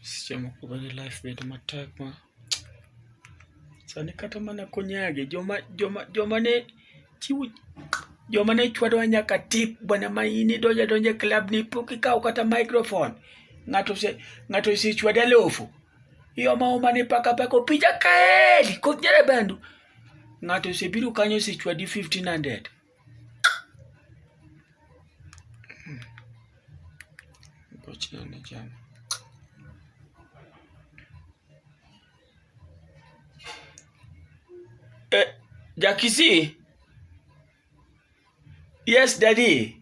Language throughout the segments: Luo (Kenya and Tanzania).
Seche moko bende life bedo matek ma sani kata mana konyagi joma joma joma ne chiwo joma ne chwadowa nyaka tip bwana ma in idonjo adonja e club ni pok ikawo kata microphone ng'ato ose ng'ato osechwade alofu ioma oma ni paka paka opija kaeli koth nyere bandu ng'ato osebiro kanyo osechwadi 1500 Eh, Jakisi. Yes, daddy.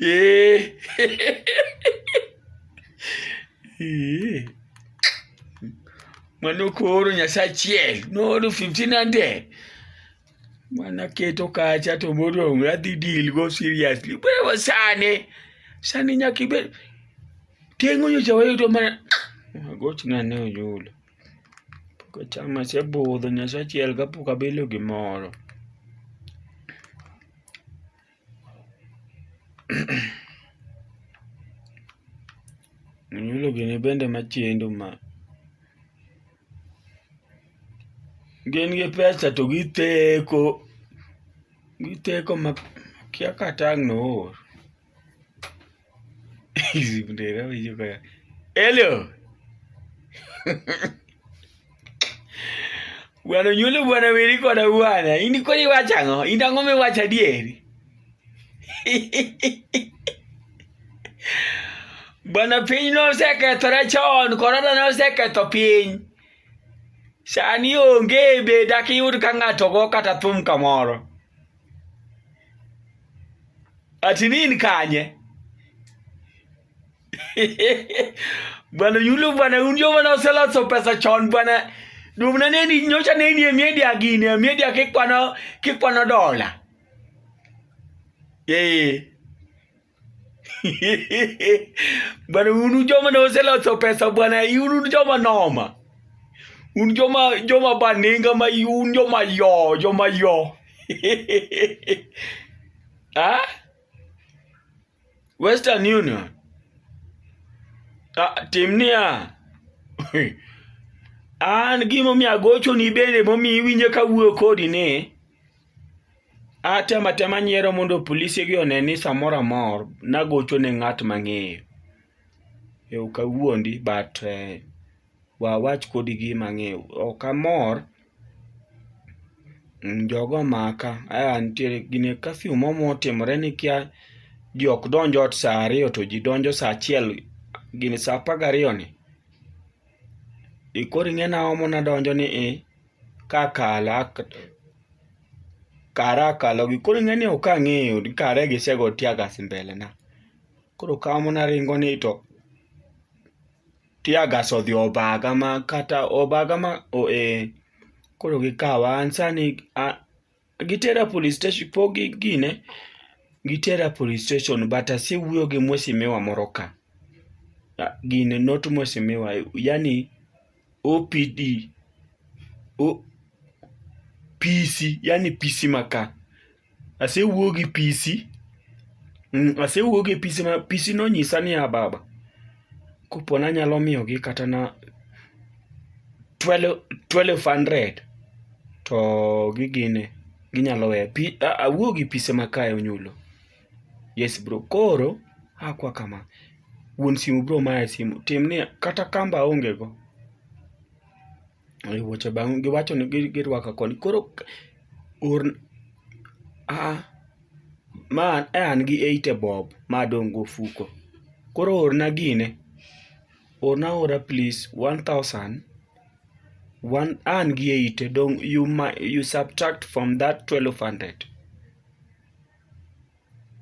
Ee. Ee. Mwana okoro nyasaye achiel nooro 1500 mana keto kacha to modong' adhi deal go seriously wewe sani sani nyaka ibed tengo nyocha wayudo mana agochna ne oyulo pok achamo asebudho nyasaye achiel kapok abilo gimoro Munyulo gini bende machendo ma gin gi pesa to githeko githeko ma kia kata ang' noor. Hello. Bwana nyulo bwana weri koda bwana. Ini kodi iwacho ang'o? In ang'o miwacho adieri? Bwana piny nosekethore chon, korona noseketho piny. Sani onge be dakiyud ka ng'ato go kata thum kamoro. Ati nini kanye? Bwana yule bwana unjo bwana usela so pesa chon bwana. Dumna neni nyocha neni e media gini e media kikwana kikwana dola. Yeye. bwana unu joma ne oseloso pesa bwana unu joma noma un joma joma baninga ma un joma yo joma yo ah? western union ah, tim niya an gimomiyo agochoni bende momiyo iwinjo kawuoyo kodi ni Atema tema nyiero mondo polise gi one ni samoro amor nagocho ne ng'at mang'eyo. E ok awuondi but wawach kodi gima ang'eyo. Ok amor, jogo omaka, aya nitiere gin e kafyu moro motimore nikia, ji ok donj ot sa ariyo to ji donjo sa achiel, gini sa apar gariyo ni. Koro ing'e ni ang'o ma nadonjo ni i? ka kala kara akalo gi koro ing'eni ok ang'eyo ni kare gisego tear gas mbele na koro kawo mana aringo ni to tear gas odhi obaga ma kata obaga ma oh eh koro gikawa an sani a Gitera police station po gi gine gitera police station but asewuoyo gi mwesimiwa moro ka gine not mwesimiwa yani OPD o, PC yani PC maka asewuoyo gi PC mm, asewuoyo gi PC ma PC nonyisa niya baba kopo ni anyalo miyogi kata na twelve hundred to gigine ginyalo weyo. Awuo gi pise ma kae Onyulo. Yes bro. Koro akwa kama, wuon simu bro maya simu, timni kata kamba aonge go. Ei wuoche bang' giwacho ni gi girwaka koni. Koro k- or, aa, ma e an gi eighty bob ma adong' go ofuko. Koro orna gine, orna aora please, one thousand, one, an gi eighty dong' you ma, you subtract from that twelve hundred.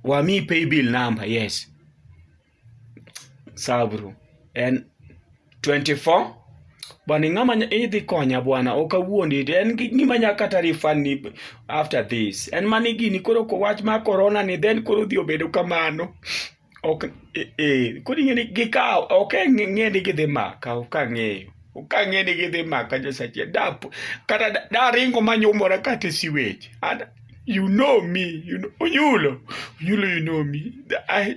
Wamiyi paybill number, yes. sabru en 24 bwana ing'ama nya- idhi konya bwana ok awuondi en gi- gima nya kata refund ni after this en mani gini koro ko wach mar corona ni then koro dhi obedo kamano ok eh, eh, koro ing'e ni gikawo ok ng'e ni gidhi maka ok ang'eyo ok ang'e ni gidhi maka nyasache dap kata da- daringo manyumora kata e siwech Ada- you know me you know, onyulo onyulo you know me I,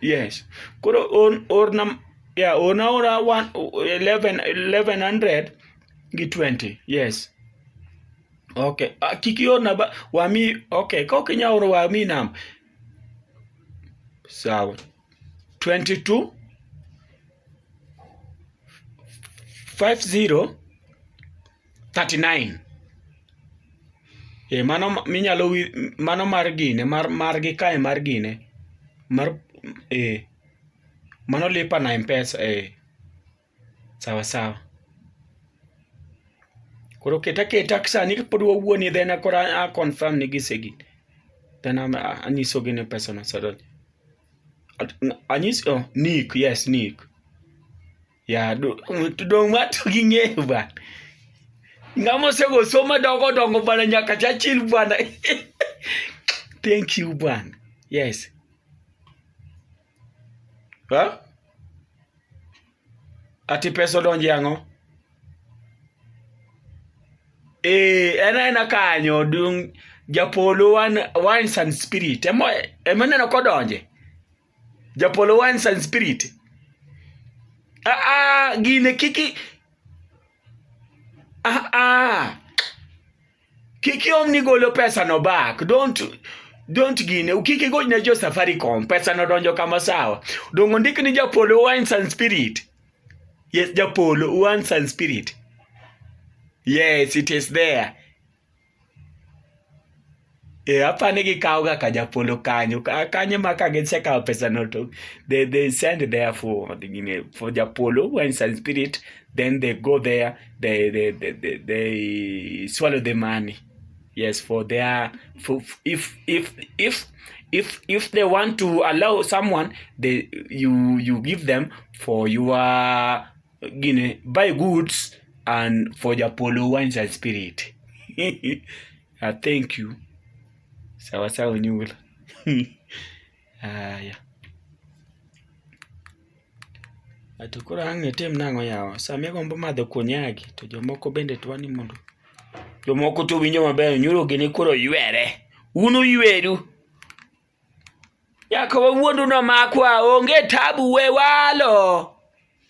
Yes. Koro on or nam yeah, on aora one eleven eleven hundred gi twenty. Yes. Okay. Uh, kik iorna ba wami okay, ka ok inyal oro wami nam. Sawa. 22 50 39 e mano minyalo mano mar gine mar margi kae mar gine mar e mano lipa na mpesa e sawa sawa koro keta keta sani pod wawuoni then koro a confirm ni gisegin then anyisogi ni pesa no osedonjo anyis oh, nick yes nick Ya, to dong' ma to ging'eyo bana. Ng'ama osego somo dongo dongo bana nyaka chachil bana. Thank you bana. Yes. Ha? Ati pesa odonje ang'o? Eh, en aena kanyo dung' japolo wan wines and spirit. Emo emo neno kodonje. Japolo wines and spirit. Ah ah gine kiki ah ah kiki omni golo pesa no back don't don't gine kiki gol ne jo safaricom pesa no donjo kama sawa dongo ndik ni japolo wines and spirit yes japolo wines and spirit yes it is there Eh, apa ni gikawo ga ka japolo kanyo Ka- kanyo ma ka gisekawo pesa no to they, they send there for the- you know, for japolo when some spirit then they go there they they, they, they, they swallow the money yes for their for, if if if if if they want to allow someone they you you give them for your gine buy goods and for japolo wines and spirit uh, thank you sawa sawa nyul haya ato koro ang' itim nang'o yawa sama igombo madho konyagi to jomoko bende twa ni mondo jomoko to winjo maber nyuro gini koro ywere un uyweru nyaka wawuondu nomakwa onge tabu we walo